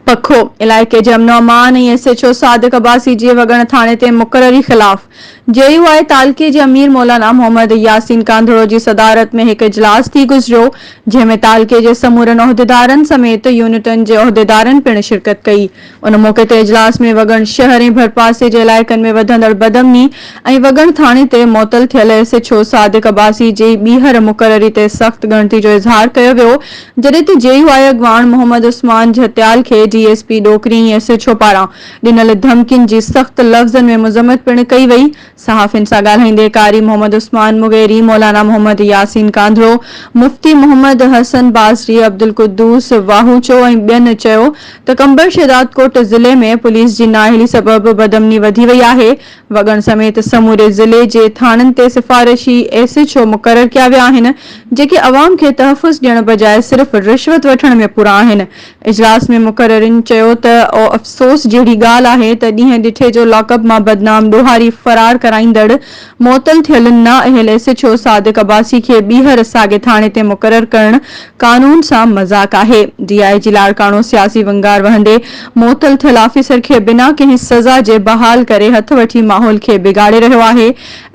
پکو علائقي جي امن و امان ۽ S H O Sadiq Abbasi جي وڳڻ ٿاڻي تي مقرري خلاف جي يو آء تعلقي جي امير مولانا محمد ياسين ڪانڌڙو جي صدارت ۾ هڪ اجلاس ٿي گذريو جنهن ۾ تعلقي جي سمورن عهديدارن سميت يونٽن جي عهديدارن پڻ شرڪت ڪئي ان موقعي تي اجلاس ۾ وڳڻ شهر ۽ ڀرپاسي جي علائقن ۾ وڌندڙ بدامني ۽ وڳڻ ٿاڻي تي معطل ٿيل S H O Sadiq Abbasi جي ٻيهر مقرري تي سخت ڳڻتي جو اظهار ڪيو ويو جڏهن ته جي يو آء اڳواڻ محمد عثمان جهتيال کي D S P Dokri ۽ S H O پاران ڏنل ڌمڪين جي سخت لفظن ۾ مذمت پڻ ڪئي وئي صحافين سان ڳالهائيندي قاري محمد عثمان مغيري، مولانا محمد ياسين ڪانڌڙو، مفتي محمد حسن بازري، عبدالقدوس واهوچو ۽ ٻين چيو ته قمبر شهدادڪوٽ ضلعي ۾ پوليس جي نااهلي سبب بدامني وڌي وئي آهي، وڳڻ سميت سموري ضلعي جي ٿاڻن تي سفارشي ايس ايڇ او مقرر ڪيا ويا آهن جيڪي عوام کي تحفظ ڏيڻ بجاء صرف رشوت وٺڻ ۾ پورا آهن، اجلاس ۾ مقررين چيو ته او افسوس جهڙي ڳالهه آهي ته ڏينهن ڏٺي جو لاڪ اپ مان بدنام ڏوهاري فرار ڪرائيندڙ معطل ٿيل نا اهل S H O Sadiq Abbasi کي ٻيهر ساڳي ٿاڻي تي مقرر ڪرڻ قانون سان مذاق آهي ڊي آء جي لاڙڪاڻو سياسي ونگار وهندي معطل ٿيل آفيسر کي بنا ڪنهن سزا جي بحال ڪري هٿ وٺي ماحول کي بگاڙي رهيو آهي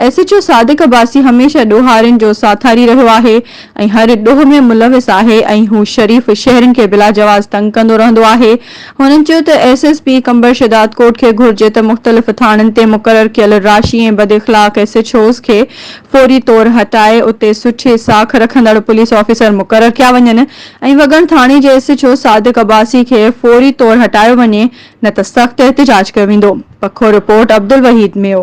S H O Sadiq Abbasi هميشه ڏوهارين جو ساٿاري رهيو آهي ۽ هر ڏوهه ۾ ملوث آهي ۽ هو شريف شهرين کي بلا جواز تنگ ڪندو رهندو آهي. هنن چيو ته S S P Qambar Shahdad Kot کي گهرجي ته مختلف ٿاڻن تي مقرر ڪيل راشي ۽ بد اخلاق ايس ايڇ اوز کي فوري طور هٽائي اتي سٺي ساک رکندڙ پوليس آفيسر مقرر ڪيا وڃن ۽ وڳڻ ٿاڻي جي S H O Sadiq Abbasi کي فوري طور هٽايو وڃي نه ته سخت احتجاج ڪيو ويندو پکو رپورٽ عبدالوحيد ميو